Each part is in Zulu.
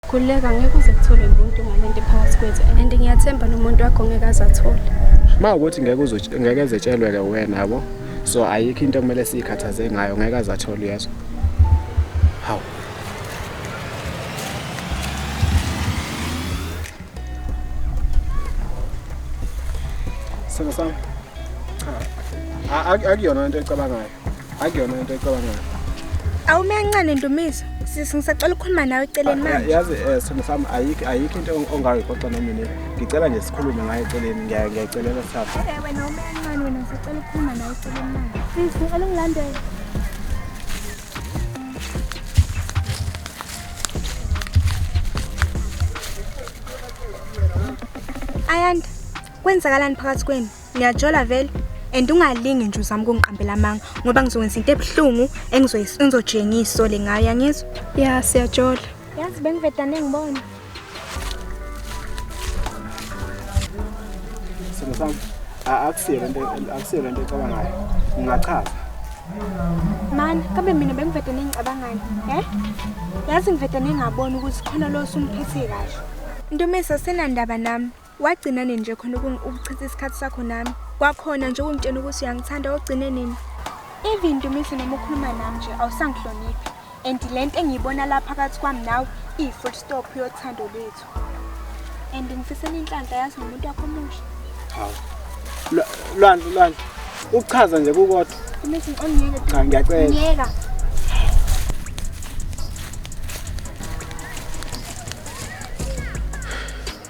Khuleka ngeke uze kuthole umuntu ngalento ephakathi kwethu and ngiyathemba nomuntu wakho ngeke azathole. Uma ukuthi ngeke uzo ngeke zetshelwe ke wena yabo. So ayikho into okumele sikhathaze ngayo ngeke azathole yezwa. Hawu. Sona sami. Akuyona into ecabangayo. akuyona into ecabangayo awumencane ndumiso sisi ngisacela ukukhuluma nawe eceleni ah, manje yazi eh, simo sami ayikho ayikho into ongayixoxa nomina ngicela nje sikhulume ngayo eceleni ngiyayicelela sithatha eh, wena umencane wena ngisacela ukukhuluma nawe eceleni manje sisi ngicela ungilandele ayanda kwenzakalani phakathi kwenu Ngiyajola vele and ungalingi nje uzama ukungiqambela amanga ngoba ngizokwenza into ebuhlungu engizojenga isole ngayo yangizwa ya siyajola yazi bengivedane ngibona simo sami akusiyo lento akusiyo lento ecabangayo ngingachaza mani kambe mina bengivedane ngicabangani e yazi ngivedane ngabona ukuthi khona lo usumphethe kahle ntomisa senandaba nami wagcina nini nje khona ukuchitha isikhathi sakho nami kwakhona nje ukungitshela ukuthi uyangithanda ogcine nini even ndumihle noma ukhuluma nami nje awusangihloniphi and le nto engiyibona la phakathi kwami nawe iyi-full stop yothando lwethu and ngifisela inhlanhla yazi nomuntu wakho omusha hawu lwandlu lwandlu ukuchaza nje kukodwa imithi ongiyeke cha ngiyacela ngiyeka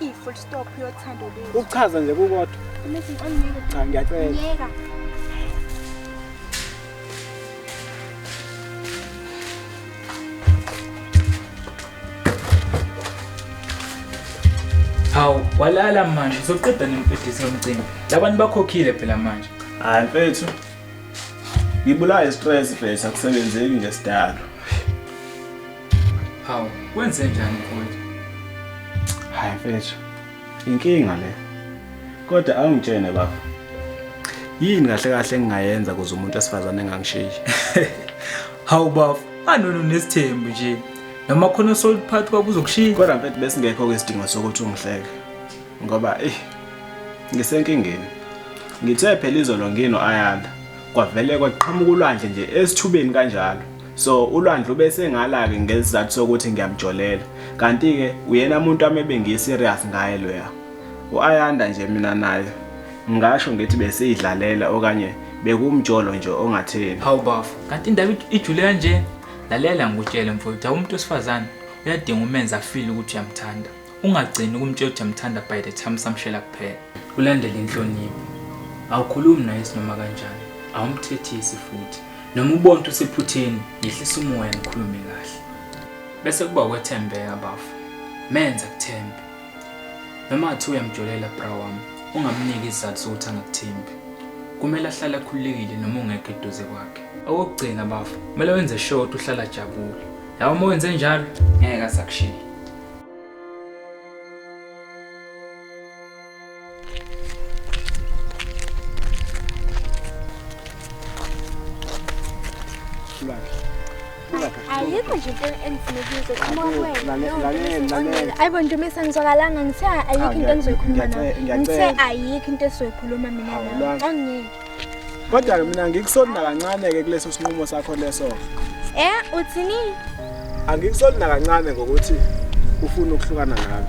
i-full stop yothando lwethu ukuchaza nje kukodwa Message angiyeke. cha ngiyacela Ngiyeka. hawu walala manje uzoqeda nempedisi yomcimbi labantu bakhokhile phela manje hayi mfethu ngibulawa istress mfethu akusebenzeki nje sidalo Hawu, kwenze njani mfowethu? Hayi mfethu. Inkinga le. Kodwa awungitshene baba. Yini kahle kahle engingayenza kuze umuntu asifazane engangishiyi? Hawu bafo, anono nesithembu nje. Noma khona soliphathi kwakuzokushiya. Kodwa mfethu besingekho ke isidingo sokuthi ungihleke. Ngoba eh ngisenkingeni. Ngithe phela izolo ngino ayanda. Kwavele kwaqhamuka ulwandle nje esithubeni kanjalo. so ulwandle ube sengala-ke ngesizathu sokuthi ngiyamjolela kanti-ke uyena muntu wami ebengiyi-serious ngaye loya u-ayanda nje mina naye ngingasho ngithi besiyidlalela okanye bekumjolo nje ongatheni hawu bafo kanti indaba ijule kanje lalela ngikutshele mfowethu awumuntu wesifazane uyadinga umenza afile ukuthi uyamthanda Ungagcini ukumtshela ukuthi amthanda by the time samshela kuphela. Ulandele inhlonipho. Awukhulumi naye sinoma kanjani. Awumthethisi futhi. Noma ubona ukuthi usephutheni, yehlisa umoya nikhulume kahle. Bese kuba ukwethembeka bafo. Menza kuthembe. Noma athi uyamjolela bra wami, ungamniki isizathu sokuthi angakuthembi. Kumele ahlale akhululekile noma ungekho eduze kwakhe. Okugcina bafo, kumele wenze sure ukuthi uhlala ajabule. Yabo uma wenze njalo, ngeke asakushiya. ayikho nje into engifunekile ayibo nje uma sengizwakalanga ngithe ayikho into engizoyikhuluma nayo ngithe ayikho into esizoyikhuluma mina nayo angeke Kodwa-ke mina ngikusoli nakancane-ke kuleso sinqumo sakho leso. Eh, uthini? Angikusoli nakancane ngokuthi ufuna ukuhlukana nami.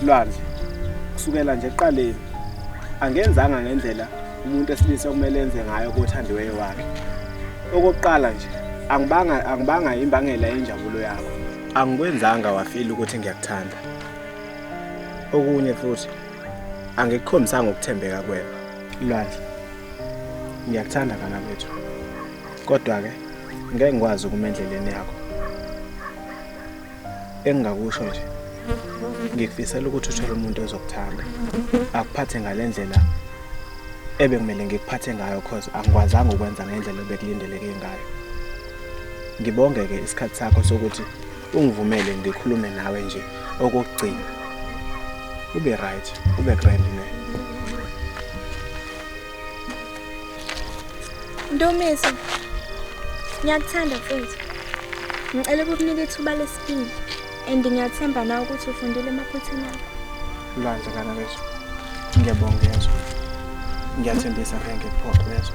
Lwandle, kusukela nje eqaleni angenzanga ngendlela umuntu esilisa okumele enze ngayo kothandiweyo wakhe. Okokuqala nje, angibanga angibanga imbangela yenjabulo yakho. Angikwenzanga wafila ukuthi ngiyakuthanda. Okunye futhi angikukhombisanga ukuthembeka kwena. Lwandle, ngiyakuthanda kana bethu. Kodwa ke ngeke ngikwazi ukuma endleleni yakho. Engingakusho nje ngikufisela ukuthi uthole umuntu ozokuthanda akuphathe ngalendlela ebekumele ngikuphathe ngayo cause angikwazanga ukwenza ngendlela obekulindeleke ngayo. Ngibonge ke isikhathi sakho sokuthi ungivumele ngikhulume nawe nje okokugcina ube right ube grand ne Ndumiso ngiyakuthanda mfethu ngicela ukukunika ithuba lesibili and ngiyathemba na ukuthi ufundile emaphuthini akho Lwandle kana leso ngiyabonga yeso ngiyathembisa ngeke photho yeso